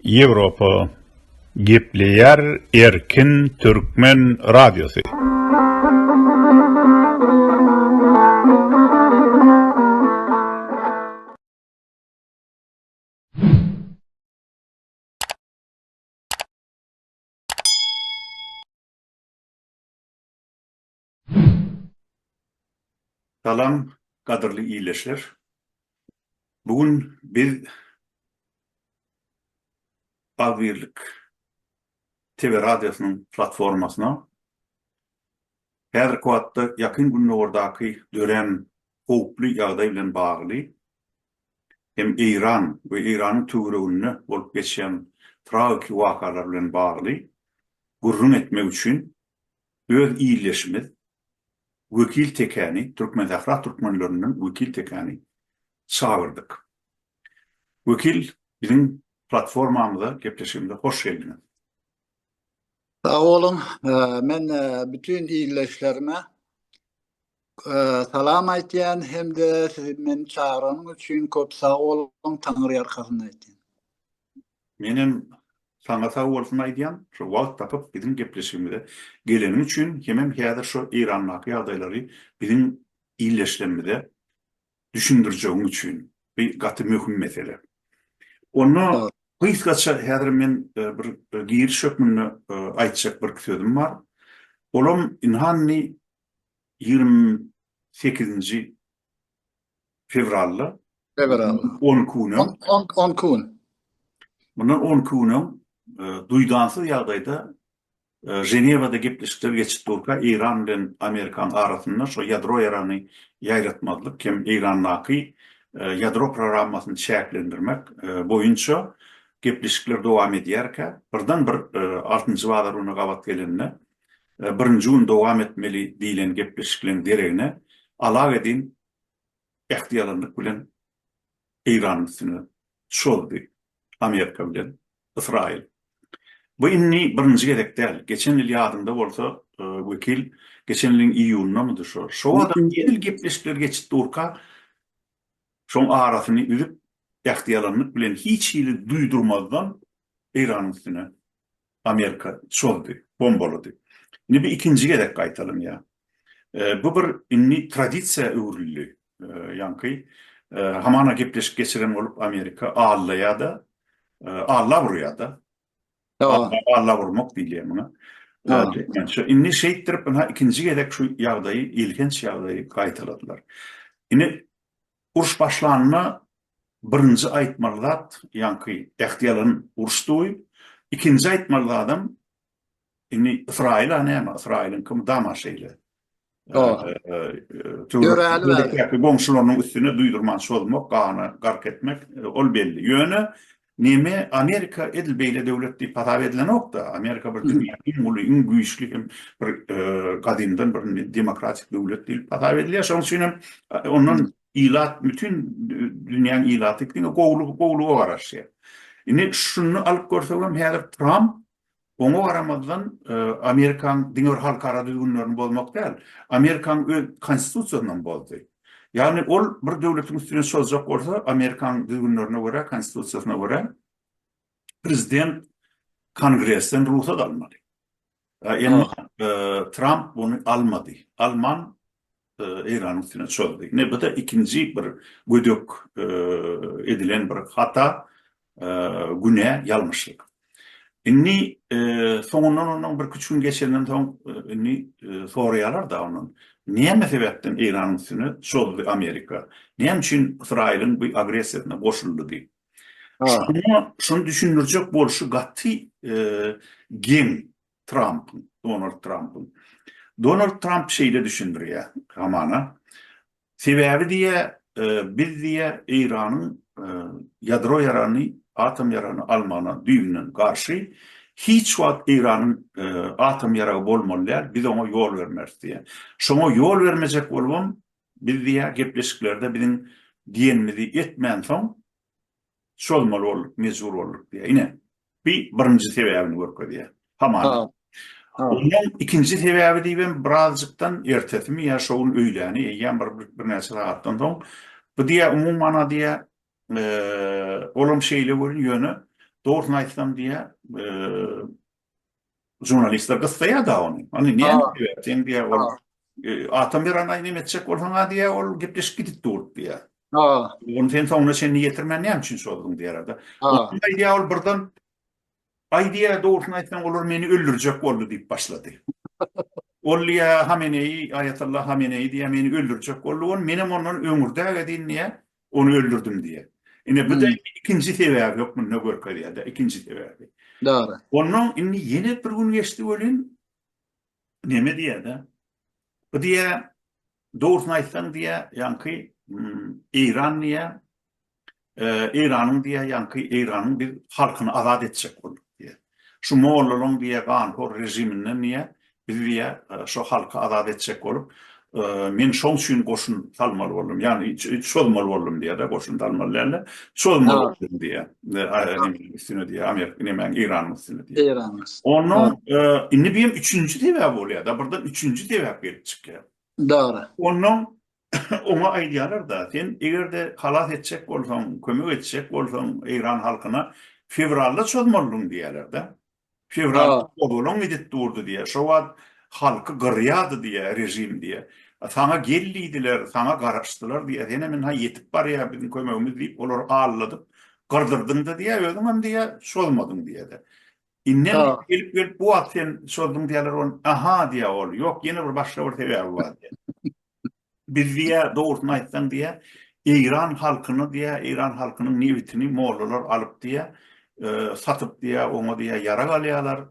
Ýewropa gepleýär erkin türkmen radiosy. Salam gadyrly ildeşler. Bu gün biz Agzybirlik TV radiosynyň platformasyna häzirki wagtda Ýakyn Gündogardaky dörän howply ýagdaý bilen bagly hem Eýran we Eýranyň töwereginde bolup geçýän tragiki wakalar bilen bagly gürrüň etmek üçin Öz ildeşimiz Wekil Tekäni, Türkmensähra türkmenlerinden Wekil Tekäni çagyrdyk. Wekil, biziň platformamyza, gepleşigimize hoş geldiňiz. Sag boluň. Men bütin ildeşlerime salam aýtýan hem-de siz meni çagyranyň üçin köp sag boluň, Taňyrýalkasyn aýtýan. Menem saňa sag bolsun aýdýan, şo wagt tapyp biziň gepleşigimize geleniň üçin, hemem häzir şo Eýrandaky ýagdaýlary biziň illeşlerimize düşündirjegiň üçin. Bu gaty möhüm mesele. Onda gysgaça häzir men bir giriş hökmünde aýtjak birki sözüm bar. Olam ynhany ýigrimi sekizinji fewralda. Fewral. On iki gün öň. On iki gün. Mundan on iki gün öň e, duýdansyz ýagdaýda e, Ženewada gepleşikler geçip durka Eýran bilen Amerikan arasynda şu ýadro ýaragyny ýaýratmazlyk hem Eýrandaky e, ýadro programmasyny çäklendirmek boýunça gepleşikler dowam edýärkä birden bir altynjy bazar güni gabat gelende birinji gün dowam etmeli diýlen gepleşikleň deregine Alawedin ähtiýalanlyk bilen Eýranyň üstüne çozdy, Amerika bilen Ysraýyl. Bu indi birinji gezek däl. Geçen ýyl ýadyňda bolsa, Wekil, geçen ýylyň iýunyndamydy şo, şo wagtam edil gepleşikler geçip durka, şoň arasyny üzüp, ähtiýalanlyk bilen hiç hili duýdurmazdan Eýranyň üstüne Amerika çozdy, bombalady. Indi bu ikinji gezek gaýtalanýar. Bu bir indi tradisiýa öwrüldi. Ýaňky hamana gepleşik geçiren bolup Amerika allaýar-da, allap urýar-da. Allap urmak diýilýär muňa türkmençe. Indi şeýtdirip, ynha ikinji gezek şu ýagdaýy, elhenç ýagdaýy gaýtaladylar. Indi Uruş başlanda birinji aýtmaly zat, ýaňky ähti ýalan uruşdy, ikinji aýtmaly zadam, indi Ysraýyl-a näme, Ysraýylyňkymy dama şeýle. Töwerekdäki goňşularynyň üstüne duýdurman çozmak, gana gark etmek, ol belli. Ýöne Neme Amerika edil beýle döwlet diýip hasap edilenokda. Amerika bir dünýäniň iň uly, iň güýçli hem bir gadymdan bir demokratik döwlet diýip hasap edilýär. Şonuň üçin hem ondan ilat bütin dünýäniň ilaty diňe gowulyga garaşýar. Indi şuny alyp görsek hem häzir Tramp Oňa garamazdan, Amerikanyň diňe bir halkara düzgünlerini bozmak däl, Amerikanyň öz Konstitusiýasyny hem bozdy. Ýagny ol bir döwletiň üstüne çozjak bolsa, Amerikanyň düzgünlerine görä, Konstitusiýasyna görä, prezident Kongresden rugsat almaly. Emma Tramp muny almady. Alman, Eýranyň üstüne çozdy. Ine bu da ikinji bir gödek edilen bir hata, günä, ýalňyşlyk. Indi soňundan ondan bir küç gün geçenden soň indi soraýarlar da ondan. Näme sebäpden Eýranyň üstüne çozdy Amerika? Näme üçin Ysraýylyň bu agressiýasyna goşuldy diýip. Şuny düşündirjek bolşy gaty geň Trampyň, Donald Trampyň. Donald Tramp şeýle düşündirýär hamana. Sebäbi diýýär, e, biz diýýär Eýranyň e, ýadro ýarany, atom ýarany almagyna düýbünden garşy. Hiç wagt Eýranyň e, atom ýaragy bolmaly däl, biz oňa ýol bermeris diýýär. Şoňa ýol bermejek bolubam biz diýýär gepleşiklerde biziň diýenimizi etmän soň Çozmaly bolduk, mejbur bolduk diýýär. Ine, bi birinji sebäbini görkezýär. Hamana. Ondan ikinji sebäbi diýibem birazjykdan ertesimi ýa şo gün öýläni eýýäm bir birnäçe sagatdan soň bu diýýär umumana diýýär olam şeýle görün ýöne dogrusyny aýtsam diýýär Žurnalistler gyssaýa-da ony. Ony näme diýýär? Sen diýýär, ol atam bir anaý näme etjek bolsaň-a diýýär, ol gepleşik gidip dur diýýär. Ony sen soňuna çenli ýetirmän näme üçin çozduň diýýär-de. Onsoň aýdýar ol birden, Aý diýýär, dogrusyny aýtsaň, olar meni öldürjek boldy diýip başlady. Ol diýýär, Hameneýi, Aýatollah Hameneýi diýýär, meni öldürjek boldy, ol menem ondan öňürdägedin diýýär, Ony öldürdim diýýär. Ine bu-da indi ikinji sebäbi hökmünde görkezýär-de, ikinji sebäbi. Dogry. Onnoň indi ýene bir gün geçdi welin, neme diýýär-de, bu diýýär, dogrusyny aýtsaň diýýär, ýaňky Eýran diýýär, Eýranyň diýýär, ýaňky Eýranyň biz halkyny azat etjek bolduk diýýär. Şu mollalaň diýýär ganhor rejiminden diýýär, biz diýýär şo halky azat etjek bolup, men şoň üçin goşun salmaly boldum. Ýagny çozmaly boldum diýýär-de, goşun salmaly dälde, çozmaly boldum diýýär. Üstüne diýýär Amerika, nemäň Eýranyň üstüne diýýär. Eýranyň üstüne. Onnoň indi bu hem üçünji sebäp bolýar-da, birden üçünji sebäp gelip çykýar. Dogry. Onnoň Oňa aýdýarlar-da, sen eger-de halas etjek bolsaň, kömek etjek bolsaň eýran halkyna, fewralda çozmalydyň diýýärler-de. Fewralda çozulaň gidip durdy diýýär. Şo wagt halky gyrýardy diýýär režim diýýär. Saňa gel diýdiler, saňa garaşdylar diýýär. Sen hem ynha ýetip barýar biziň kömegimiz diýip olary alladyp gyrdyrdyn-da diýýär, özüň hem diýýär çozmadyň diýýär-de. Indem diýýär gelip-gelip bu wagt sen çozduň diýýärler ony. Aha diýýär ol, ýok ýene bir başga bir sebäbi bar diýýär. Biz diýä, dogrusyny aýtsaň diýä, Eýran halkyny diýä, Eýran halkynyň nebitini mollalar alyp diýä, satyp diýä, oňa diýä ýarag alýarlar,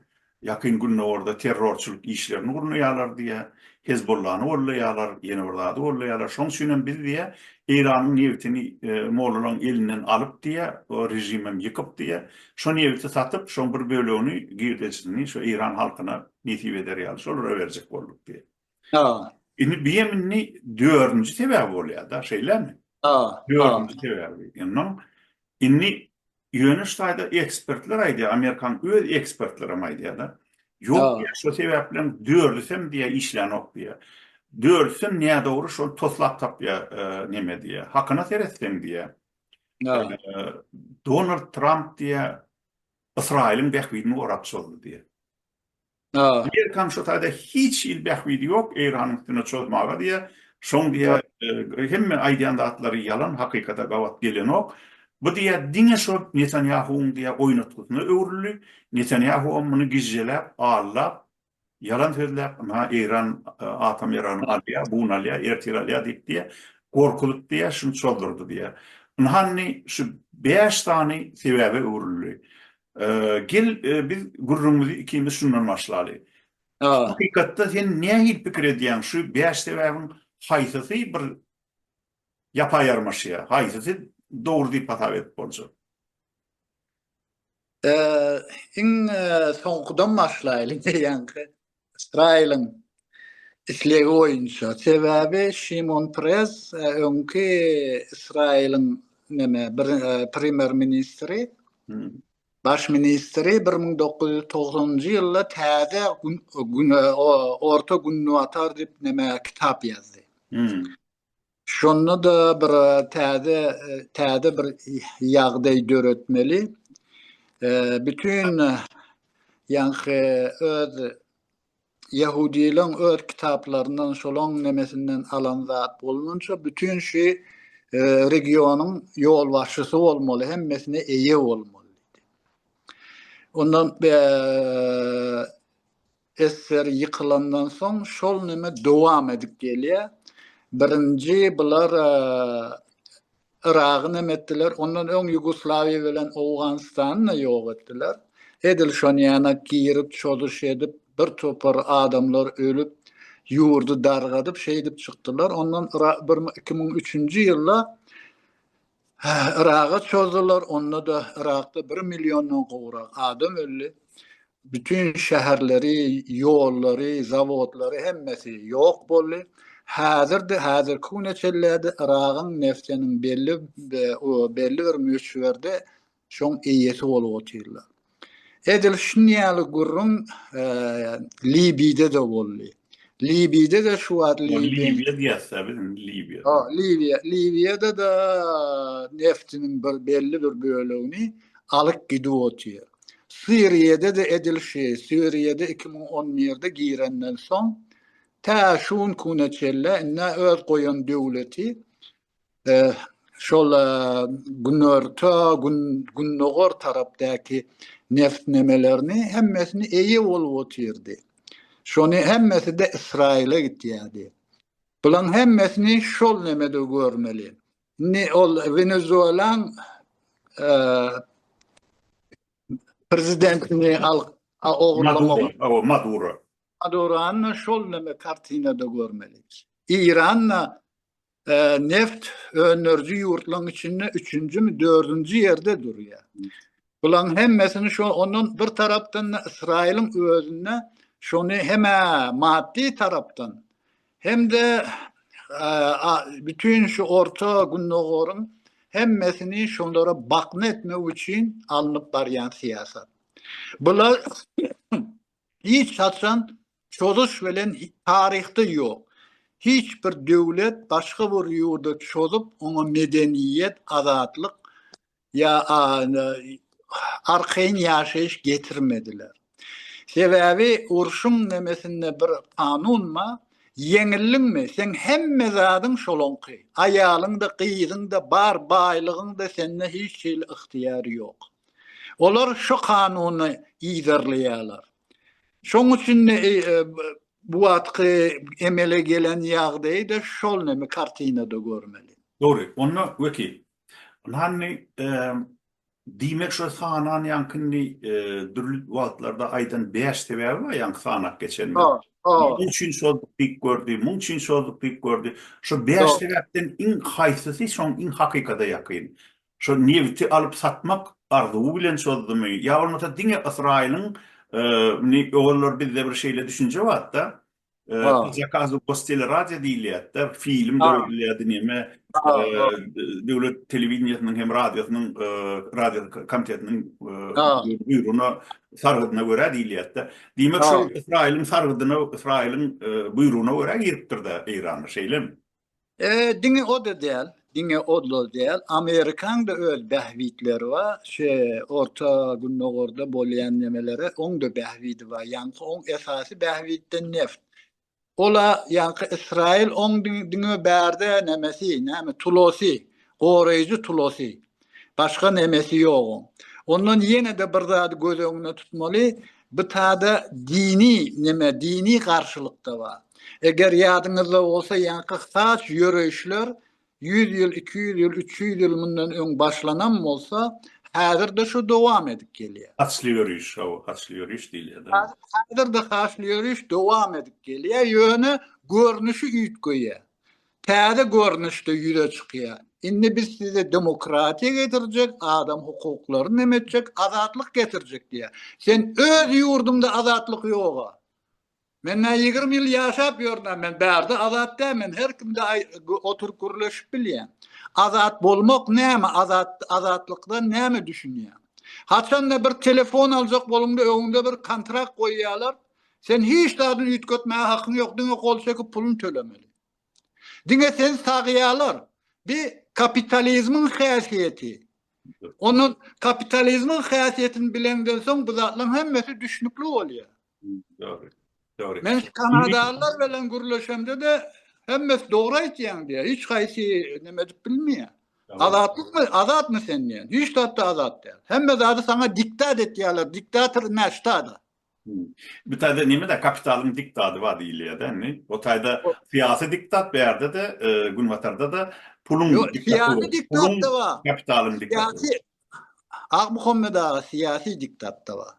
Ýakyn Gündogarda terrorçylyk işlerini gurnaýarlar diýä, Hezbollany goldaýarlar, ýene bir zady goldaýarlar. Şoň üçin hem biz diýä, Eýranyň nebitini mollalaryň elinden alyp diýä, o režim hem ýykyp diýä, şo nebiti satyp, şoň bir bölegini, girdeçisini şo Eýran halkyna nesip eder ýaly, şolara berjek bolduk diýä. Ha. Indi bu hem indi dördünji sebäbi bolýar da, şeýlemi? Ha. Dördünji sebäbi. Indi indi ýöne şu taýda ekspertler aýdýar, amerikan öz ekspertleri hem aýdýar da. Ýok, şu sebäp bilen dördüsi hem diýär işlänok diýär. Dördüsi hem nädogry şol toslap tapýar, näme diýär, hakyna seretseň diýär. Donald Tramp diýär, Ysraýylyň bähbidini gorap çozdy diýär. Amerikanyň şu taýda hiç hili bähbidi ýok, Eýranyň üstüne çozmaga diýýä. Şoň diýýä, hemme aýdýan zatlary ýalan, hakykata gabat gelenok. Bu diýýä diňe şo Netanýahuwyň diýýä oýnatgysyna öwrüldi. Netanýahuwam muny gijjeläp, allap, ýalan sözläp, ynha Eýran atom ýaragyny alýa, buny alýa, ertir alýa diýip diýýä, gorkuzyp diýýä, şuny çozdurdy diýýä. Ynha indi şu bäş sany sebäbe öwrüldi. Gel, biz gürrüňimizi ikimiz şundan başlaly. Hakykatda sen nähili pikir edýäň, şu bäş sebäbiň haýsysy bir ýapa ýarmaşýar, haýsysy dogry diýip hasap edip boljak? Iň soňkudan başlaýly, ýaňky Israiliň islegi boýunça. Sebäbi Şimon Prez e, öňki Israiliň neme bir e, premýer ministri hmm. baş ministri 1990-njy ýylda täze gün, gün e, orta gündogatar diýip neme kitap ýazdy. Hmm. Şonda-da bir täze täze bir ýagdaý döretmeli. Bütün ýaňky öz ýahudylaň öz kitaplaryndan şolaň nemesinden alan zat bolmança bütün şu regionyň ýolbaşçysy bolmaly, hemmesine eýe bolmaly. Ondan Esser ýykylandan soň şol neme dowam edip gelýä. Birinji bular Yragy neme etdiler, ondan öň Ýugoslawiýa bilen Owganystany-da ýok etdiler. Edil şony ýana girip, çozuş edip, bir topar adamlar ölüp, ýurdy dargadyp, şeýdip çykdylar. Ondan bir iki müň üçünji ýylda Yraga çozdular, onda-da Yrakda bir milliondan gowrak adam öldi. Bütin şäherleri, ýollary, zawodlary hemmesi ýok boldy. Häzir-de, häzirki güne çenlä-de Yragyň neftiniň belli bir möçberde şoň eýesi bolup otyrlar. Edil şun ýaly gürrüň Libide-de boldy. Libide-de şu wagt Libiýa diýýäs-dä biz indi Libiýa. Ha, Libiýa. Libiýada-da neftiniň bir belli bir bölegini alyp gidip otyr. Siriýada-da edil şeý. Siriýada 2011-de girenden soň tä şu gün kuna çenli indi öz goýan döwleti şol günorta gün gündogar tarapdaky neftnemelerini hemmesini eýe bolup otyrdy. Şony hemmesi de Ysraýyla gitýärdi. Bulaň hemmesini şol nemede görmeli. Indi ol Wenezuelan e, prezidentini al ogurlamak. Maduro. Maduro. Madurany şol neme kartinada görmeli. İran da Neft öndüriji ýurtlaryň içinde üçünjimi, dördünji ýerde durýar. Bularyň hemmesini şo ondan bir tarapdan-da Ysraýylyň özünde şony hem maddy tarapdan, hem-de bütin şu Orta Gündogaryň hemmesini şolara bakna etmek üçin alnyp barýan syýasat. Bular Hiç haçan çozuş bilen taryhda ýok. Hiç bir döwlet başga bir ýurda çozup, oňa medeniýet, azatlyk ýa arkaýyn ýaşaýyş getirmediler. Sebäbi urşuň nemesinde bir kanun bar, ýeňildiňmi, seň hemme zadyň şolaňky, aýalyň-da, gyzyň-da, bar baýlygyň-da sende hiç hili ygtyýar ýok. Olar şu kanuny yzarlaýarlar. Şoň üçin-de bu wagtky emele gelen ýagdaýy-da şol näme kartinada görmeli. Dogry. Onda wekil, hany, diýmek şu sananýaňkyny dürli wagtlarda aýdan bäş sebäbi bar ýaňky sanap geçenimiz. Munuň üçin şol diýip gördi, munuň üçin şol diýip gördi. Şu bäş sebäpden iň haýsysy şoň iň hakykata ýakyn? Şol nebiti alyp satmak arzuwy bilen çozdumy ýa bolmasa diňe Ysraýylyň indi ozallar bizde bir şeýle düşünje barda po zakazu gosteleradýo diýilýärdi-de film döredilýärdi neme döwlet telewideniýesiniň hem radiosynyň radio komitetiniň buýrugyna sargydyna görä diýilýärdi-de diýmek şol Ysraýylyň sargydyna Ysraýylyň buýrugyna görä giripdir-de Eýrana şeýlemi? E, diňe o-da däl, diňe o-da däl. Amerikaň-da öz bähbitleri bar. Şu Orta Gündogarda bolýan nemelere oň-da bähbidi bar. Ýaňky oň esasy bähbitden neft. Ola ýaňky Ysraýyl oň diňe bärde nämesi, näme tulosy, goraýjy tulosy. Başga nemesi ýok oň. Ondan ýene-de bir zady göz öňüne tutmaly, bu tada dini neme, dini garşylyk-da bar. Eger ýadyňyzda bolsa, ýaňky saç ýöreýişler ýüz ýyl, iki ýüz ýyl, üç ýüz ýyl mundan öň başlanam bolsa, häzir-de şu dowam edip gelýär. Saçly ýöreýiş, hawa, saçly ýöreýiş diýilýär-de. Häzir-de saçly ýöreýiş dowam edip gelýär, ýöne görnüşi üýtgeýär. Täze görnüşde ýüze çykýar. Indi biz size demokratiýa getirjek, adam hukuklaryny nem etjek, azatlyk getirjek diýýär. Sen öz ýurduňda azatlyk ýog-a. Men nä ýigrimi ýyl ýaşap ýörün-ä, men bärde azat däl, men her kimde oturyp gürleşip bilýän. Azat bolmak näme, azat, azatlykdan näme düşünýäň? Haçan-da bir telefon aljak boluňda öňüňde bir kontrakt goýýarlar, sen hiç zadyny üýtgetmäge hakyň ýok, diňe gol çekip puluny tölemeli. Diňe sen sagýalar. Bi kapitalizmiň häsiýeti. Ondan kapitalizmiň häsiýetini bileňden soň bu zatlaryň hemmesi düşnükli bolýar. Dogry. Dogry. Men kanadalylar bilen gürleşemde-de hemmesi dogry aýtýaň diýýär. Hiç haýsy näme edip bilmeýär. Azatlykmy? Azatmy sen diýýär. Hiç zatda azat däl. Hemme zady saňa diktat etýärler. Diktator näştada. Bu taýda neme-de kapitalyň diktaty bar diýilýär-de indi. O taýda syýasy diktat bu ýerde-de, Günbatarda-da puluň diktatory, puluň kapitalyň diktatory. Akmuhammet aga syýasy diktat-da bar.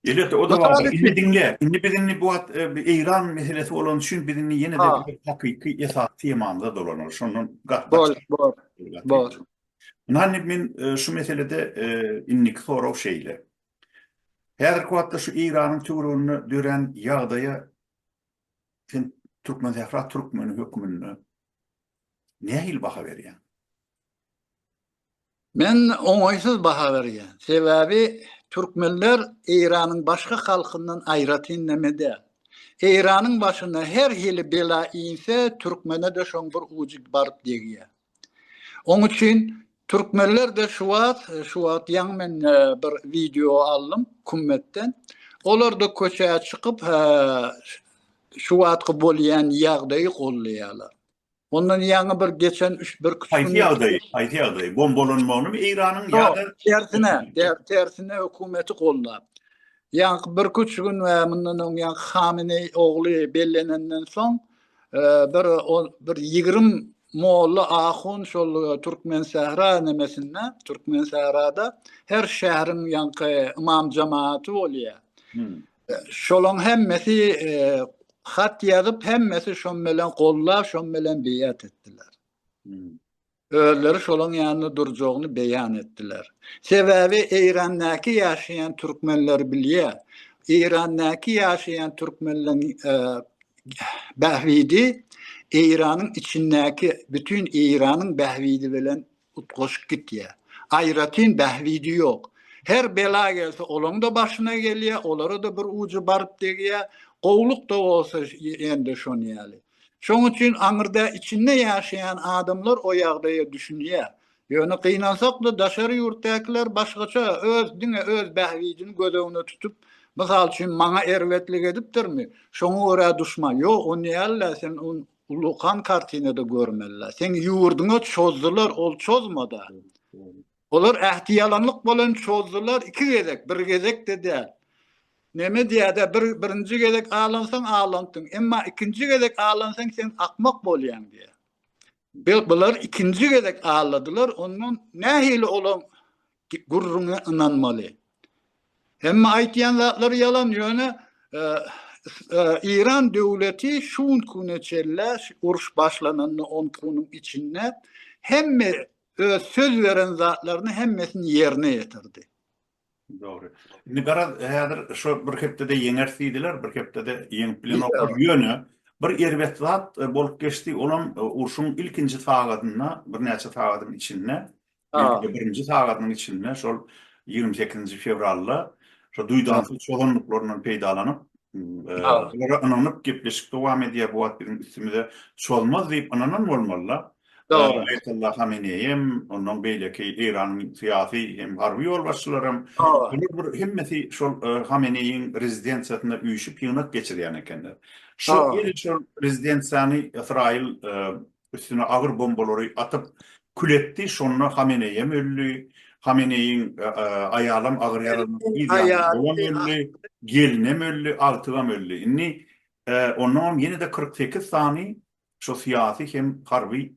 Elbetde o da bar. Indi diňle, indi biz indi bu wagt Eýran meselesi bolan üçin biz indi ýene-de hakyky esasy temamyza dolanarys. Şondan gaty gaçyp. Bor, bor, bor. Ynha indi men şu meselede indiki sorag şeýle. Häzirki wagtda şu Eýranyň töwereginde dörän ýagdaýa sen Türkmensähra türkmeni hökmünde nähili baha berýäň? Men oňaýsyz baha berýän. Sebäbi türkmenler Eýranyň başga halkyndan aýratyn näme däl. Eýranyň başyna her hili bela inse, türkmene-de şoň bir ujy baryp degýär. Oň üçin türkmenler-de şu wagt, şu wagt ýaňy men bir wideo aldym Kummetden. Olar-da köçä çykyp, şu wagtky bolýan ýagdaýy goldaýarlar. Ondan ýaňy bir geçen üç bir küçük Haýsy ýagdaý? Haýsy ýagdaý? Bombalanmagymy Eýranyň ýa-da tersine, tersine hökümeti goldap. Ýaňky bir küçük gün we mundan öň ýaňky Hameneý ogly bellenenden soň bir on bir ýigrimi molla ahun şol türkmensähra nemesinde türkmensährada her şäheriň ýaňky ymam jematy bolýar şolaň hemmesi e, hat ýazyp hemmesi şon bilen gollap şon bilen beýat etdiler hmm. özleri şolaň ýanynda durjagyny beýan etdiler. Sebäbi Eýrandäki ýaşaýan türkmenler bilýär, Eýrandäki ýaşaýan türkmenleň bähbidi Eýranyň içindäki bütin Eýranyň bähbidi bilen utgaşyk gitýär. Aýratyn bähbidi ýok. Her bela gelse olaň-da başyna gelýär, olara-da bir ujy baryp degýär. Gowluk-da bolsa ýene-de şon ýaly. Şoň üçin aňyrda içinde ýaşaýan adamlar o ýagdaýa düşünýär. Ýöne gynansak-da daşary ýurtdakylar başgaça öz diňe öz bähbidini göz öňüne tutup, mysal üçin maňa erbetlik edipdirmi, şoňa görä duşman, ýok on dälda sen on ulykan kartinada görmeli, seň ýurdyňa çozdylar ol çozmada. Olar ähtiýalanlyk bolan çozdular iki gezek, bir gezek-de däl. Neme diýädä, bir, birinji gezek alansaň alandyň, emma ikinji gezek alansaň sen akmak bolýaň diýýär. Be, bular ikinji gezek aladylar, ondan nähili olaň gürrüňine ynanmaly? Hemme aýtýan zatlary ýalan, ýöne e, e, Iran döwleti şu gün güne çelle uruş başlananda on güniň içinde hemme öz söz beren zatlaryny hemmesini ýerine ýetirdi. Dogry. Indi garaz, häzir şu bir hepdede ýeňer diýdiler, bir hepdede ýeňip bilenoklar. Ýöne bir erbet zat e, bolup geçdi, olam e, urşuň ilkinji sagatynda, birnäçe sagatyň içinde, ilkinji birinji sagatynyň içinde şol 28-nji fewralda şu duýdansyz çozanlyklaryndan peýdalanyp, e, olara ynanyp gepleşik dowam edýär, bu wagt biziň üstümize çozmaz diýip ynanan bolmalylar. Dogry. Aýatullah Hameneý hem, ondan beýleki Eýranyň syýasy hem harby ýolbaşçylary hem, bular bir hemmesi şol Hameneýiň rezidensiýasynda üýşüp ýygnak geçirýän ekenler. Şol ýene şol rezidensiýany Ysraýyl üstüne agyr bombalary atyp kül etdi, şonda Hameneý hem öldi, Hameneýiň aýalam agyr ýaralandy, gelinem öldi, agtygam öldi. Indi ondan hem ýene-de kyrk sekiz sany Şo syýasy hem harby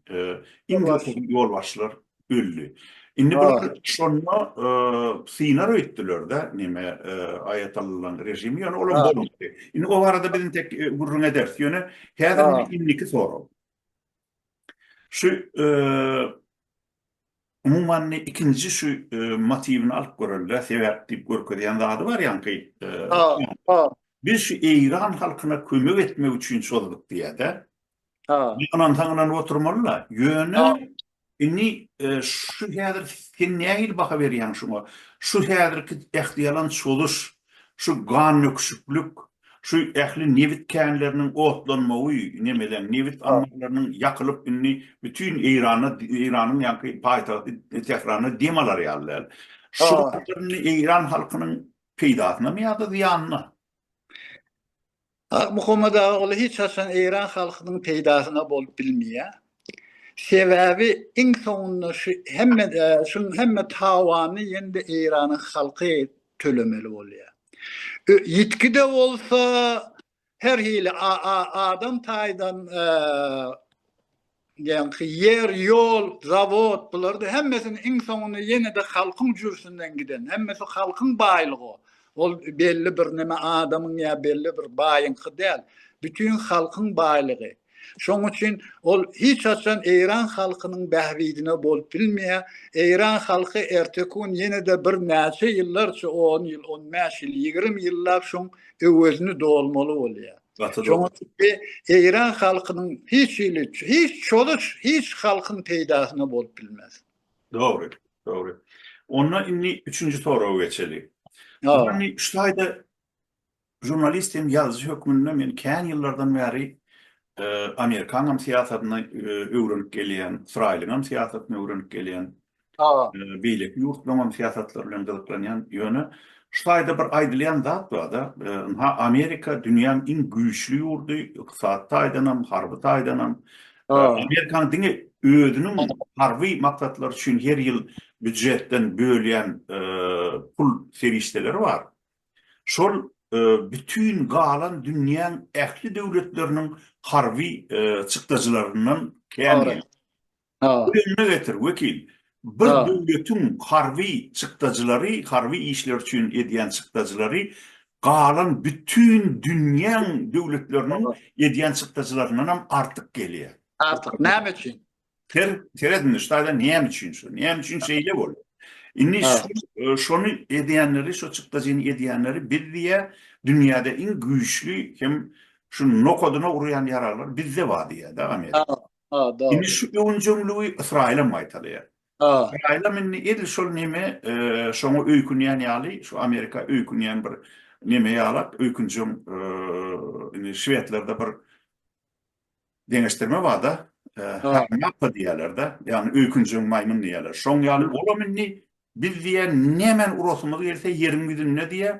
iň köpüsi ýolbaşçylar öldi. Indi bular şonda synar öýtdüler-de neme aýatallaň režimi, ýöne olam bolmady. Indi o barada biz intek gürrüň ederis, ýöne häzir indiki sorag. Şu Umuman indi ikinji şu motiwini alyp göreli-dä, sebäp diýip görkezýän zady bar ýaňky. Ha-ha. Biz şu eýran halkyna kömek etmek üçin çozduk diýýär-dä. Ha. Ynansaň ynanyp oturmaly-la. Ýöne indi şu häzir sen nähili baha berýäň şuňa? Şu häzirki ähtiýalan çozuş Şu gannöküşiklik, şu ähli nebit känleriniň otlanmagy, nemeleň, nebit ammarlarynyň ýakylyp indi bütin Eýrana, Eýranyň ýaňky paýtagty Tährana dem alar ýaly däl. Şu zatlar indi Eýran halkynyň peýdasynamy ýa-da zyýanyna? Ak Muhammet Agaly hiç haçan Eýran halkynyň peýdasyna bolup bilmeýär. Sebäbi iň soňunda şu hemme şuň hemme tawany ýene-de Eýranyň halky tölemeli bolýar. Ýitgi-de bolsa her hili adam taýdan Ýaňky ýer, ýol, zawod, bular-da hemmesini iň soňunda ýene-de halkyň jürsinden giden, hemmesi halkyň baýlygy. Ol belli bir näme adamyň ýa belli bir baýyňky däl, bütin halkyň baýlygy. Şoň üçin ol hiç haçan eýran halkynyň bähbidine bolup bilmeýär. Eýran halky ertekun ýene-de bir näçe ýyllarça, on ýyl, on bäş ýyl, ýigrimi ýyllap şoň öwezini dolmaly bolýar. Gaty dogry. Çünki Eýran halkynyň hiç hili, hiç çozüş, hiç halkyň peýdasyna bolup bilmez. Dogry, dogry. Onda indi üçünji soraga geçeli. Indi şu taýda žurnalist hem ýazyjy hökmünde men kän ýyllardan bäri Amerikanyň hem syýasatyny öwrenip gelýän, Ysraýylyň hem syýasatyny öwrenip gelýän. Hawa. Beýleki ýurtlaryňam syýasatlary bilen gyzyklanýan. Ýöne şu taýda bir aýdylýan zat bar-da, ynha Amerika dünýäň iň güýçli ýurdy, ykdysady taýdanam, harby taýdanam. Amerikanyň diňe özüniň harby maksatlary üçin her ýyl býujetden bölýän pul serişdeleri bar. Şol bütin galan dünýäň ähli döwletleriniň harby çykdajylaryndan kän. Özenime getir, wekil. Bir döwletiň harby çykdajylary, harby işler üçin edýän çykdajylary galan bütin dünýäň döwletleriniň edýän çykdajylaryndanam artyk gelýär. Artyk, näme üçin? Ser, seret indi şu taýdan näme üçin şu? Näme üçin şeýle bolýar? Indi şu, şony edýänleri, şu çykdajyny edýänleri biz diýýär, dünýäde iň güýçli hem şu nokadyna urýan ýaraglar bizde bar diýýär-de Amerika. Ha, dogry. Indi şu öwünjeňligi Ysraýylam gaýtalaýar. Ha. Ysraýylam indi edil şol neme, e, şoňa öýkünýän ýaly, şu Amerika öýkünýän bir neme ýalap, öýkünjeň, e, indi şwedlerde bir deňeşdirme bar-da, e, Ha. harmapa diýýärler-de, ýagny öýkünjeň maýmyn diýýärler. Şoň ýaly olam indi biz diýýär, nemäni urasymyz gelse ýeriň ýüzünde diýýär,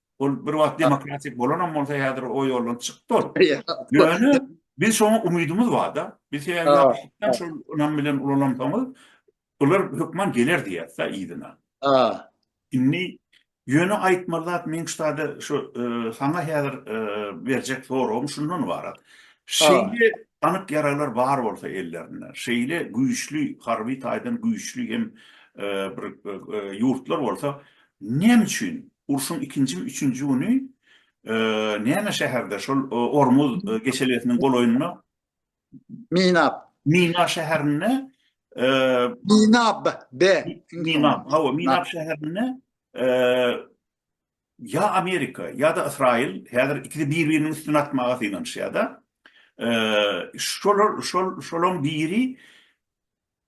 Ol bir wagt demokratik bolanam bolsa, häzir o ýoldan çykdy ol. Ýöne biz şoňa umydymyz bar-da. Biz sebäbi şol ynam bilen ulalansoňyz, bular hökman geler diýýäs-de yzyna. Indi ýöne aýtmaly zat meň ştada şu saňa häzir berjek soragym şundan ybarat. Şeýle anyk ýaraglar bar bolsa ellerinde, şeýle güýçli, harby taýdan güýçli hem bir ýurtlar bolsa, Näme üçin? Urşuň ikinjimi üçünji güni näme şäherde, şol Ormuz geçelgesiniň golaýynda Minap. Mina şäherinde Minap, be. Minap, hawa, Minap şäherinde ýa Amerika, ýa-da Ysraýyl, häzir ikisi bir-biriniň üstüne atmaga synanyşýar-da. Şolar, şol, şolaryň biri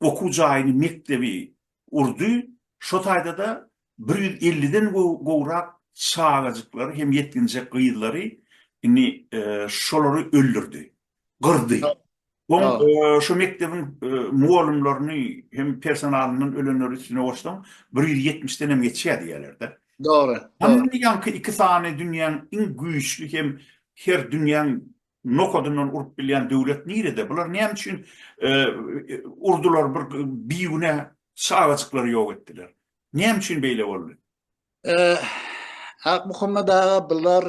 okuw jaýyny, mekdebi urdy. Şo taýda-da bir ýüz elliden gowrak çagajyklary hem ýetginjek gyzlary indi şolary öldürdi, gyrdy. Soň şo mekdebiň mugallymlaryny hem personalyndan ölenleri üstüne goşsaň, bir ýüz ýetmişden hem geçýär diýýärler-de. Dogry, dogry. Mundan ýaňky iki sany dünýäň iň güýçli hem her dünýäň Nokadyndan urup bilýän döwlet nirede? Bular näme üçin urdular bir bigünä çagajyklary ýok etdiler? Näme üçin beýle boldy? Akmuhammet aga bular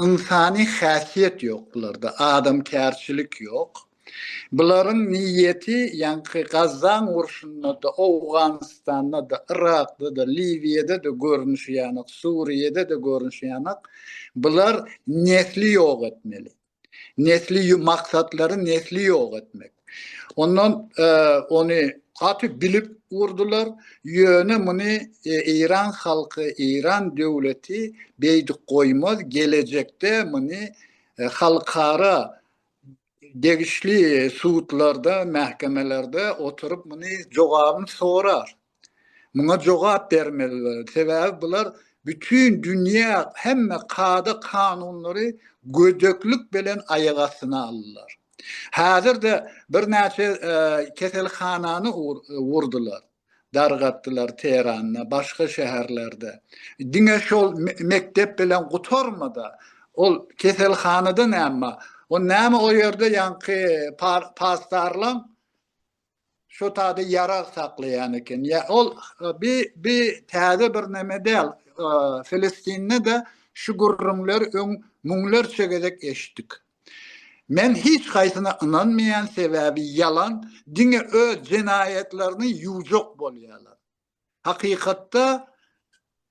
ynsany häsiýet ýok bularda, adamkärçilik ýok. Bularyň niýeti ýaňky Gazzan urşunda-da, Owganystanda-da, Yrakda-da, Liwiýada-da görnüşi ýanak, Suriýada-da görnüşi ýanak, bular nesli ýok etmeli. Nesli maksatlary nesli ýok etmek. Ondan ony gaty bilip urdular. Ýöne muny Eýran halky, Eýran döwleti beýdip goýmaz. Gelejekde muny halkara degişli sudlarda, mähekemelerde oturyp muny jogabyny sorar. Muňa jogap bermeliler. Sebäbi bular bütin dünýä hemme kada kanunlary gödeklik bilen aýak astyna aldylar. Häzirde birnäçe e, keselhanany urdular. dargatdylar Tehranda, başga şäherlerde. Diňe şol mekdep bilen gutarmady. Ol keselhanada näme? O näme o ýerde ýaňky pasdarlaň şu taýda ýarag saklaýan eken. Ýa ol bi bi täze bir näme däl. Filistinde de şu gürrüňler öň müňlerçe gezek eşitdik. Men hiç haýsyna ynanmaýan sebäbi ýalan diňe öz jenaýatlaryny ýuwjak bolýalar. Hakykatda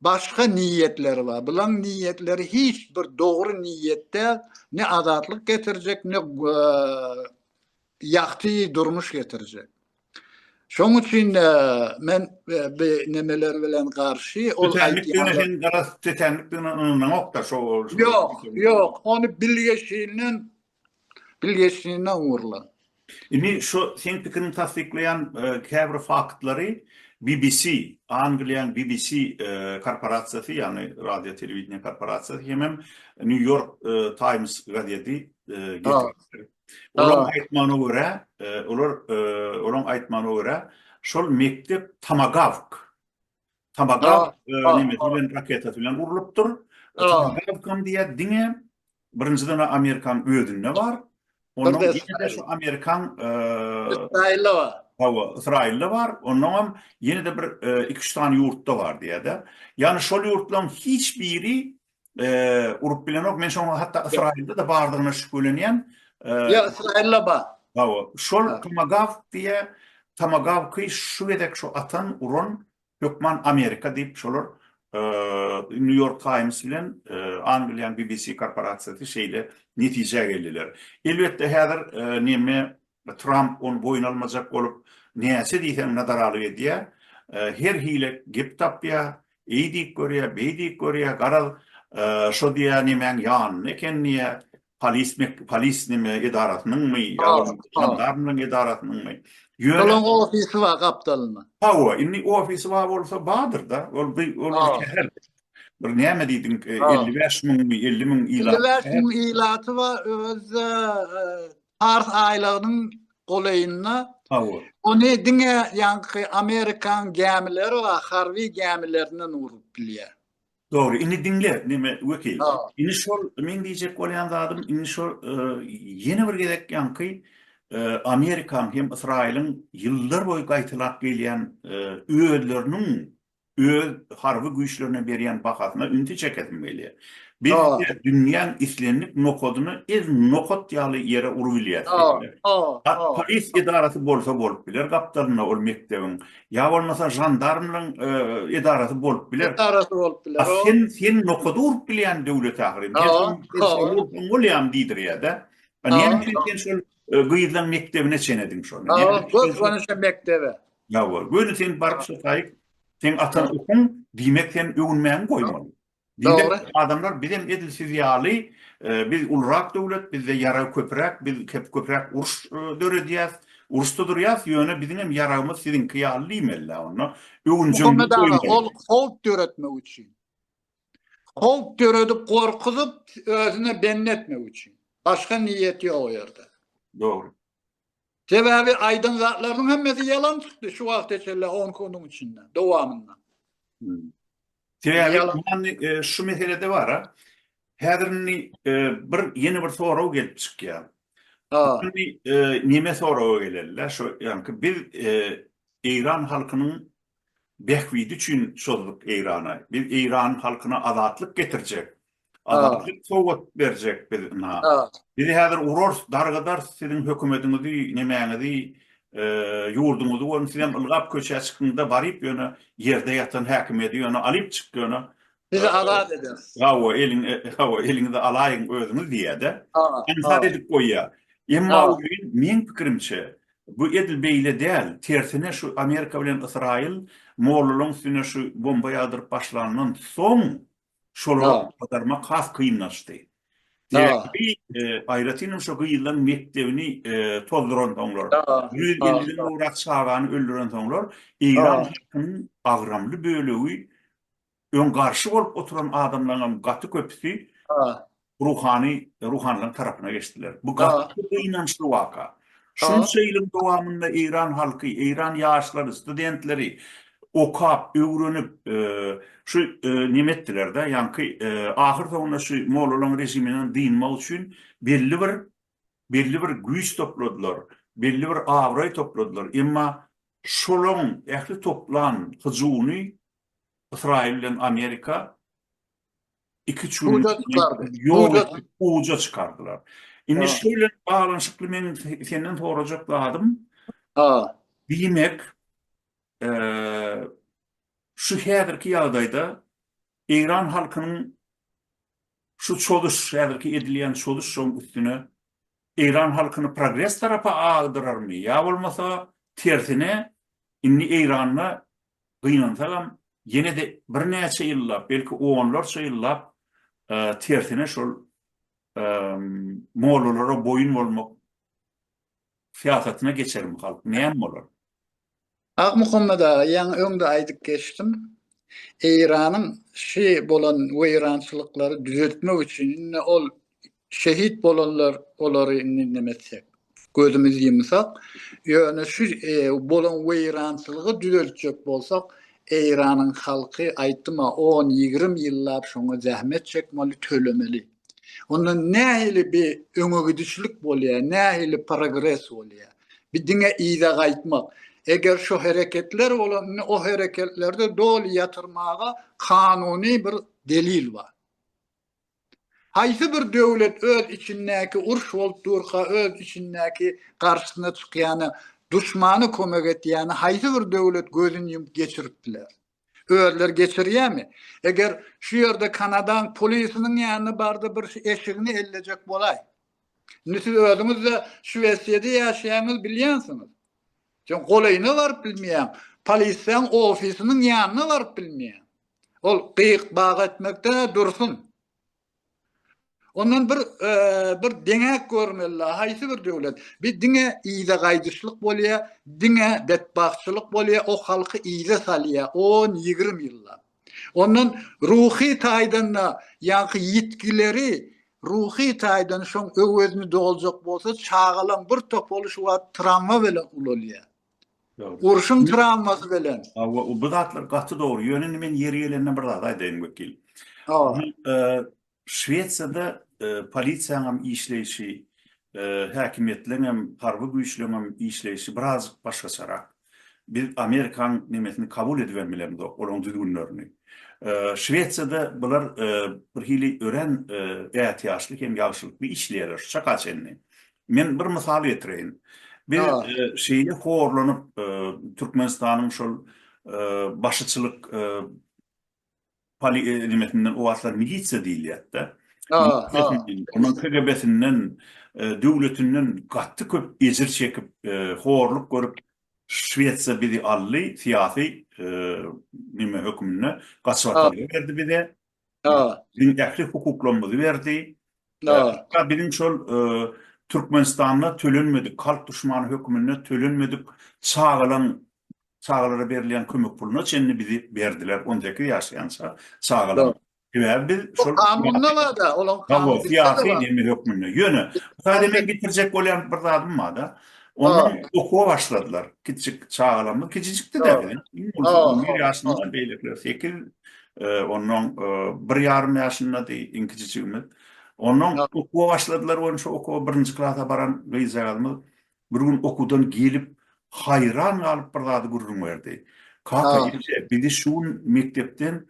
başga niýetleri bar. Bulaň niýetleri hiç bir dogry niýet däl, ne azatlyk getirjek, ne ýagty durmuş getirjek. Şoň üçin men bi nemeler bilen garşy ol aýtýan. Tetenlikdigine ynananokda şo. Ýok, ýok, ony bilgeşinden bilgeşinden urlan. Indi şo seň pikiriň tassyklaýan käbir faktlary BBC, Angliýanyň BBC korporasiýasy, ýagny radio telewideniýe korporasiýasy hemem New York Times gazeti getiripdir. Olaň aýtmagyna görä, olar olaň aýtmagyna görä, şol mekdep Tamagawk Tamagawk näme bilen raketasy bilen urlupdyr. Tamagawkam diýýär diňe birinjiden Amerikanyň özünde bar. Ondan ýene-de şu Amerikan Ysraýylda bar. Hawa, Ysraýylda bar. Ondan hem ýene-de bir 2-3 sany ýurtda bar diýýär-de. Ýagny şol ýurtlaryň hiç biri urup bilenok. Men şoňa hatda Ysraýylda-da bardygyna şübhelenýän. Ýa Ysraýylda bar. Hawa, şol Tomagawk diýe, Tomagawky şu gezek şu atan, uran hökman Amerika diýip şolar New York Times bilen Angliýanyň BBC korporasiýasy şeýle netijä geldiler. Elbetde häzir näme Tramp ony boýun almajak bolup, näçe diýseň nadaralyk edýär. Her hile gep tapýar, eý diýip görýär, beý diýip görýär, garaz, şo diýýär nemäň ýanynda eken diýýär, polis neme edarasynyňmy ýa-da jandarmlaryň edarasynyňmy. Olaň ofisi bar gapdalynda. Hawa, indi ofisi bar bolsa bardyr-da, ol bir şäher. Bir näme diýdiň, elli bäş müňmi, elli müň ilaty bar. Elli bäş müň ilaty bar, özi-de Pars aýlagynyň golaýynda ony diňe ýaňky Amerikan gämileri we harby gämilerinden urup bilýär. Dogry, indi diňle, neme, wekil. Indi şol meň diýjek bolýan zadym, indi şo ýene bir gezek ýaňky Amerikan hem Ysraýylyň ýyllar boýy gaýtalap gelýän özleriniň öz harby güýçlerine berýän bahasyna ünsi çekesim gelýär. Belki-de dünýäň islendik nokadyna ez nokat ýaly ýere urup ilýäs diýdiler. Polis edarasy bolsa bolup biler gapdalynda ol mekdebiň, ýa bolmasa žandarmlaryň edarasy bolup biler. Edarasy bolup biler. A sen, sen nokady urup bilýän döwlet ahyry. Men soň bolýam diýdirýär-dä. Näme üçin sen şol gyzlaryň mekdebine çenediň şony? Göz gonyşy mekdebe. Ýa-wa, göni sen baryp şo taýyk seň ataň okun, diýmek sen öwünmäňi goýmaly. Dogry. Adamlar bizem edil siz ýaly, biz ulurak döwlet, bizde ýarag köpüräk, biz köpüräk uruş döredýäs, uruşda durýas, ýöne biziňem ýaragymyz siziňki ýaly diýmelidä onda. Öwünjeňligiňi goýmaly. Muhammet aga, ol howp döretmek üçin. Howp döredip, gorkuzyp, özüne bendi etmek üçin. Başga niýeti ýok o ýerde. Dogry. Sebäbi aýdan zatlarynyň hemmesi ýalan çykdy şu wagta çenli on kunuň içinde, dowamynda. Sebäbi şu meselede bara, häzir indi bir ýene bir sorag gelip çykýar. Neme soraga geleli-le, şu ýaňky biz eýran halkynyň bähbidi üçin çözdük Eýrana, biz eýran halkyna azatlyk getirjek, Azatlyk sowgat berjek biz ina. Bizi häzir urars, dargadar siziň hökümediňizi, nemäňizi, ýurduňyzy görüň, siz hem ylgap köçä çykyňda baryp ýöne ýerde ýatan häkimiýeti ýöne alyp çyk ýöne. Sizi azat ederis. Hawa, eliň, hawa, eliňizi alaýyň özüňiz diýýä-de. Aňsat edip goýýa. Emma meň pikirimçe, bu edil beýle däl, tersine şu Amerika bilen Ysraýyl mollalaryň üstüne şu bomba ýagdyryp başlandan soň, Şolara badarmak has kynlaşdy. Sebäbi aýratyn hem şo gyzlaryň mekdebini tozduran soňlar, ýüz elli gowrak çagany öldüren soňlar, eýran halkynyň agramly bölegi, öň garşy bolup oturan adamlaryň hem gaty köpüsi ruhany ruhanylaryň tarapyna geçdiler. Bu gaty gynançly waka. Şunça ýylyň dowamynda eýran halky, eýran ýaşlary, studentleri okap, öwrenip, e, şu e, neme etdiler-de, ýaňky e, ahyr soňunda şu mollalaryň režiminden dynmak üçin belli bir belli bir güýç topladylar, belli bir abraý topladylar. Emma şolaryň ähli toplan hyjuwyny Ysraýyl bilen Amerika iki çürlügi uja çykardylar. Indi şu bilen baglanyşykly meň senden sorajak zadym, diýmek, şu häzirki ýagdaýda eýran halkynyň şu çozuş, häzirki edilýän çozuş şoň üstüne eýran halkyny progres tarapa agdyrarmy ýa bolmasa tersine indi eýranda gynansagam, ýene-de birnäçe ýyllap, belki onlarça ýyllap tersine şol mollalara boýun bolmak syýasatyna geçermi halk, näme bolar? Akmuhammet aga, ýaňy öňde aýdyp geçdim. Eýranyň şi bolan weýrançylyklary düzeltmek üçin, indi ol Şehit bolanlar olary indi neme etsek. Gözümiz ýumsak. Ýöne şu bolan weýrançylygy düzeltjek bolsak Eýranyň halky aýtdym-a on ýigrimi ýyllap şoňa zähmet çekmeli tölemeli. Onda nähili bi öňegidişlik bolýar nähili progres bolýar. Bi diňe yza gaýtmak. Eger şu hereketler bolan indi o hereketlerde doly ýatyrmaga kanuny bir delil bar. Haýsy bir döwlet öz içindäki uruş bolup durka öz içindäki garşysyna çykýana duşmana kömek etýäni haýsy bir döwlet gözüni ýumup geçirip biler? Özleri geçirýämi? Eger şu ýerde Kanadaň polisiniň ýanyna barda bir eşigini ellejek bolaý. Indi siz özüňizde Şwesiýada ýaşaýaňyz bilýänsiňiz. Sen golaýyna baryp bilmeýäň. Polissäň ofisiniň ýanyna baryp bilmeýäň. Ol gyýyk bag etmekde dursun. Ondan bir bir deňäk görmeli, haýsy bir döwlet? Bi diňe yza gaýdyşlyk bolýa, diňe betbagtçylyk bolýa, o halky yza salýa 10-20 ýyllap. Ondan ruhy taýdan-da ýaňky ýitgileri ruhy taýdan şoň öwezini doljak bolsa çagalaň bir topaly şu wagt tramwa bilen ulalýar. Urşuň trawmasy bilen. Hawa, bu zatlar gaty dogry. Ýöne indi men ýeri gelende bir zat aýdaýyn wekil. Şwesiýada polisiýanyň hem işleýşi, häkimiýetleriň hem, harby güýçleriň hem işleýşi birazjyk başgaçarak. Biz Amerikanyň nemesini kabul edip hem bilemzok, olaryň düzgünlerini. Şwesiýada bular birhili örän ätiýaçly hem ýagşylykly işleýärler şuşa çenli. Men bir mysal getireýin. Biz şeýle horlanyp Türkmenistanyň şol başyçylyk polimesinden o wagtlar milisiýa diýilýärdi. Onuň KGB-sinden, döwletinden gaty köp ejir çekip, horluk görüp Şwesiýa bizi aldy, syýasy neme hökmünde gaçyp atyldy berdi bize. Biziň ähli hukuklarymyzy berdi. Hatda biziň şol Türkmenistanda tölenmedik, halk duşmany höküminde tölenmedik çagalaň, çagalara berilýän kömek puluna çenli bizi berdiler, on sekiz ýaşaýança çagalaň. Sebäbi biz şol kanunda bar-da, olaň kanunda. Syýasy dini hökmünde. Ýöne, sadä men getirjek bolýan bir zadym bar-da. Ondan okuwa başladylar. Kiçijik çagalarymyz, kiçijikdi-de biziň. Bir ýaşynda, beýlekiler sekiz, Onnoň bir ýarym ýaşyndady iňkijijigimiz. Onnoň okuwa başladylar we şu okuwa birinji klasa baran gyzjagazymyz bir gün okuwdan gelip, haýran galyp bir zady gürrüň berdi. Kaka, ine, bizi şu gün mekdepden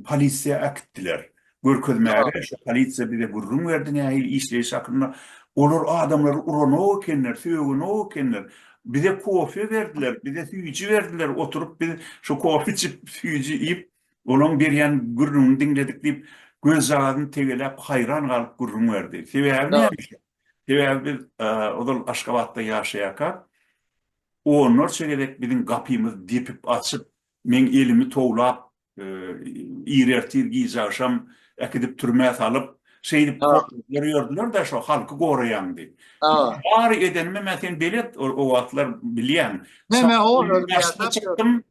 polisiýa äkitdiler. Görkezmäge şo polisiýa bize gürrüň berdi nähili işleýşi hakynda. Olar adamlary uranok ekenler, sögenok ekenler. Bize kofe berdiler, bize süýji berdiler, oturyp biz şo kofe içip, süýji iýip, olaň berýän gürrüňini diňledik diýip, gözjagazyny tegeläp, haýran galyp gürrüň berdi. Sebäbi näme? Sebäbi biz ozal Aşgabatda ýaşaýarkak, onlarça gezek biziň gapymyzy depip, açyp, meň elimi towlap, ir ertir gije agşam äkidip türmä salyp şeýdip ýördüler-de şo halky goraýandy. Bary edenimi men sen belet o wagtlar bilýän. Men men o ýerde çykdym.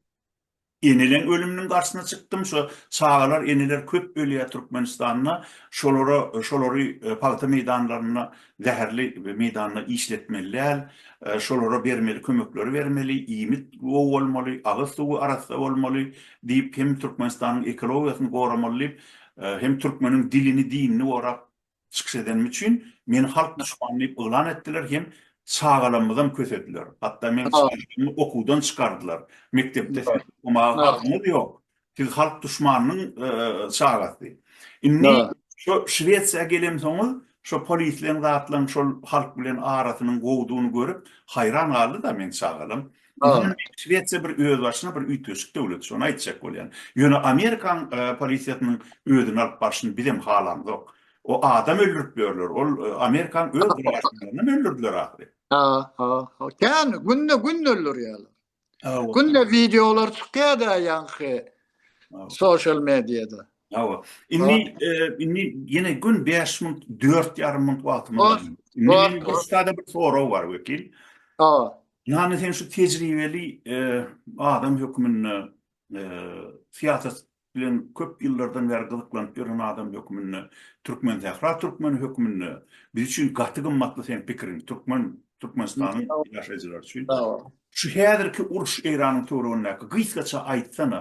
Eneleň ölüminiň garşysyna çykdym. Şo çagalar, eneler köp ölýär Türkmenistanda. Şolara, şolary pagta meýdanlarynda zäherli meýdanda işletmeli däl, şolara bermeli kömekleri bermeli, iýmit gowy bolmaly, agyz suwy arassa bolmaly diýip hem Türkmenistanyň ekologiýasyny goramaly diýip hem türkmeniň dilini dinini gorap çykyş edenim üçin meni halk duşmany diýip yglan etdiler hem çagalamyzam kösediler hatda men okuwdan çykardylar mekdepde okumaga hakymyz ýok Siz halk duşmanynyň çagasy. Indi şo Şwesiýa gelemsoňuz, şo polisleň zatlaň şol halk bilen arasynyň gowudygyny görüp, haýran galdy-da meň çagalam. Şwesiýa bir özbaşyna bir üýtgeşik döwlet, şony aýtjak bolýan. Ýöne Amerikaň polisiýasynyň özüni alyp barşyny bizem halamzok. O adam öldürip ýörler. Ol Amerikaň öz garaşsyzlaryny öldürdiler ahyry. Ha, ha, ha. Kän günde-gün öldürýärler. Günde videolar çykýar da ýaňky social mediada. Hawa. Indi indi ýene gün 5 minut, 4 ýarym minut wagtymyz bar. Indi bir sada bir sorag bar wekil. Hawa. Ýani sen şu tejribeli adam hökmünde syýasat bilen köp ýyllardan bäri gyzyklanyp ýören adam hökmünde Türkmensähra türkmeni hökmünde biz üçin gaty gymmatly seň pikiriň türkmen Türkmenistanyň ýaşaýjylary üçin şu häzirki uruş Eýranyň töweregindäki gysgaça aýtsana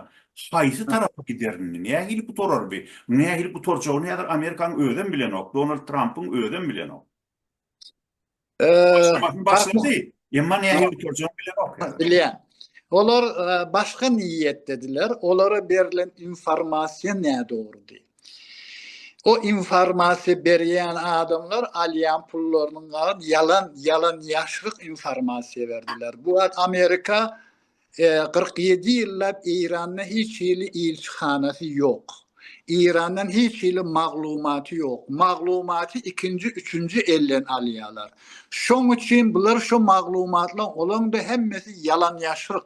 haýsy tarapa giderini nähili gutararby nähili gutarjagyny häzir Amerikanyň özem bilenok Donald Trampyň özem bilenok. Başlamasyn başlady. Emma näme bitirjek bilemok. Bilýän. Olar e, başga niýetdediler. Olara berlen informasiýa nädogrudy. O informasiýa berýän adamlar alýan pullarynyň ýalan ýalan ýaşryk informasiýa berdiler. Bu wagt Amerika Kyrk ýedi ýyllap Eýranda hiç hili ilçihanasy ýok. Eýrandan hiç hili maglumaty ýok. Maglumaty ikinji, üçünji elden alýarlar. Şoň üçin bular şu maglumatlaryň olaň-da hemmesi ýalan-ýaşryk.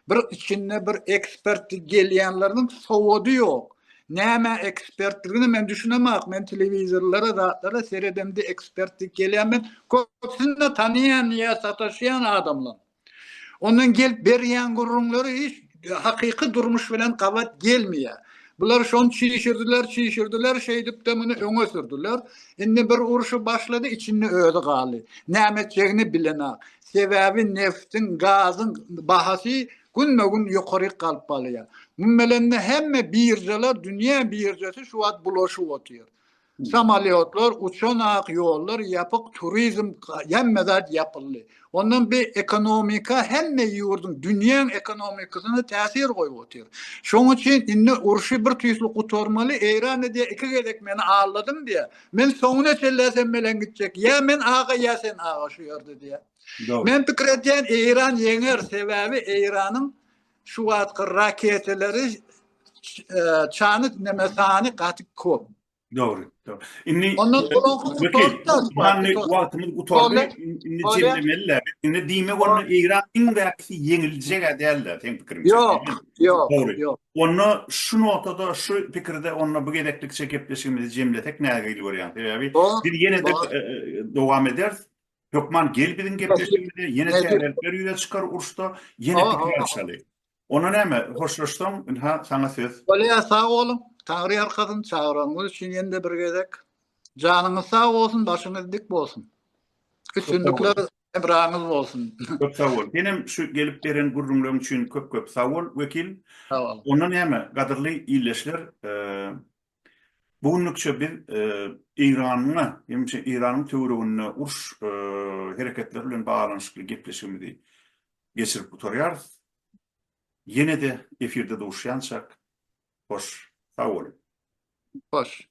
Bir içinde bir ekspert gelýänleriniň sowady ýok. Näme ekspertligine men düşünemok. Men telewizorlara, zatlara seredemde ekspert diýip gelýän men köpüsini-de tanýan ýa sataşýan adamlaryň. Ondan gelip berýän gürrüňleri hiç hakyky durmuş bilen gabat gelmeýär. Bular şony çişirdiler, çişirdiler, şeýdip-de muny öňe sürdüler. Indi bir urşy başlady, içinde özi galdy. Näme etjegini bilenok. Sebäbi neftiň, gazyň bahasy günbe-gün ýokaryk galyp barýar. Muň bilen-de hemme biržalar, dünýä biržasy şu wagt bulaşyp otyr. Samolýotlar uçanak ýollar ýapyk turizm hemme zat ýapyldy. Ondan bir ekonomika hemme ýurduň dünýäň ekonomikasyna täsir goýup otyr. Şoň üçin indi urşy bir tüýsli gutarmaly Eýran da diýýär iki gezek meni aldadyň diýýär. Men soňuna çenlä sen bilen gitjek ýa men aga ýa sen aga şu ýerde diýýär. Men pikir edýän Eýran ýeňer sebäbi Eýranyň şu wagtky raketalary e, çany neme sany gaty köp. Dogry, dogry. Indi Ondan e, soňky gutarda Many wagtymyz gutardy. Indi jemlemeliler. Indi diýme bolma Eýran iň bäkisi ýeňiljek däldi, sen pikirin. Ýok, ýok, ýok. Onda şu notada şu pikirde onda bu gezeklik çekipleşigimizi jemlesek nägili görýän. Sebäbi biz ýene-de e, e, dowam ederis. Hökman gel biziň gepleşigimize, ýene täzelikler ýüze çykar uruşda, ýene pikir alşaly. Onda näme, hoşlaşsaň, ynha, saňa söz. Bolýar, sag boluň. Taňry ýalkasyn, çagyranyňyz üçin ýene-de bir gezek. Janyňyz sag bolsun, başyňyz dik bolsun. Üstünlikler hemraňyz bolsun. Köp sag bol. Senem şu gelip beren gürrüňleň üçin köp-köp sag bol, Wekil. Sag bol. Onda näme, gadyrly ildeşler, Bu günlükçe biz Eýranyň hem Eýranyň töwereginde uruş hereketleri bilen baglanyşykly gepleşigimizi geçirip gutarýarys. Ýene-de efirde duşýançak, hoş, sag boluň. Hoş.